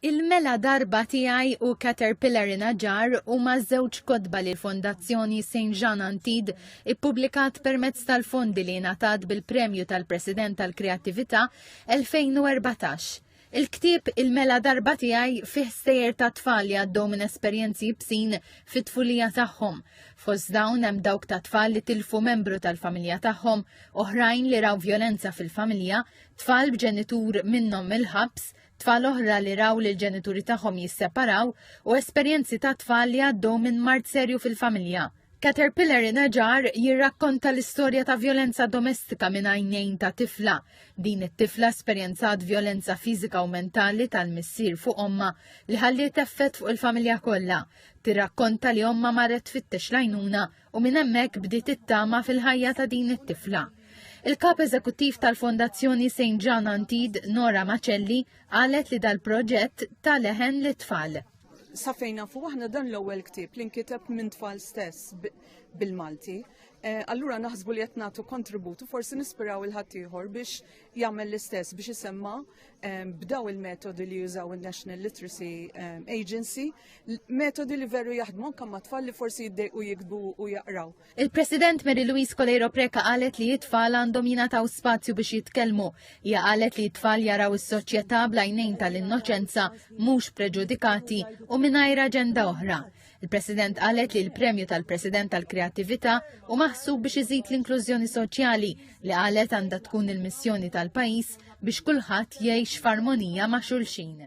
Il-mela darba tiegħi u Caterpillar in a Jar huma żewġ kotba li l-Fondazzjoni Saint Jean Antid ippubblikat permezz tal-fondi li ngħatat bil-Premju tal-President tal-Kreattività 2014. Il-ktieb Il-Mela Darba Tiegħi fih sejjer ta' tfal li għaddew minn esperjenzi bsin fit-tfulija tagħhom. Fost dawn hemm dawk ta' tfal li tilfu membru tal-familja tagħhom, oħrajn li raw vjolenza fil-familja, tfal b'ġenitur minnhom mill-ħabs, tfal oħra li raw li l-ġenituri tagħhom jisseparaw u esperjenzi ta' tfal li għaddew minn mard serju fil-familja. Caterpillar Inaġar jirrakkonta l-istorja ta' violenza domestika minn għajnejn ta' tifla. Din it-tifla esperjenzat violenza fiżika u mentali tal-missier fuq omma li ħalliet effett fuq il-familja kollha. Tirrakkonta li omma marret fittex lajnuna u minn hemmhekk bdiet it-tama fil-ħajja ta' din it-tifla. Il-kap eżekuttiv tal-Fondazzjoni St. John Antid, Nora Macelli, qalet li dal-proġett ta' leħen li tfal. Safejna fuq aħna dan l-ewwel ktieb li nkiteb minn tfal stess bil-Malti. Eh, allura naħsbu li qed nagħtu kontributu forsi nispiraw il-ħaddieħor biex jagħmel l-istess biex isemma' b'daw il-metodi li jużaw il-National Literacy Agency, metodi li veru jaħdmu anke ma' tfal li forsi jiddejqu jikbu u jaqraw. Il-President Mary Louise Kolejro Preka qalet li it-tfal għandhom jingħataw spazju biex jitkellmu. Hija qalet li t-tfal jaraw is-soċjetà blajnejn tal-innoċenza mhux preġudikati u mingħajr aġenda oħra. Il-President qalet li l-Premju tal-President tal-Kreattività u maħsub biex iżid l-inklużjoni soċjali li qalet għandha tkun il-missjoni tal-pajjiż biex kulħadd jgħix f'armonija ma' xulxin.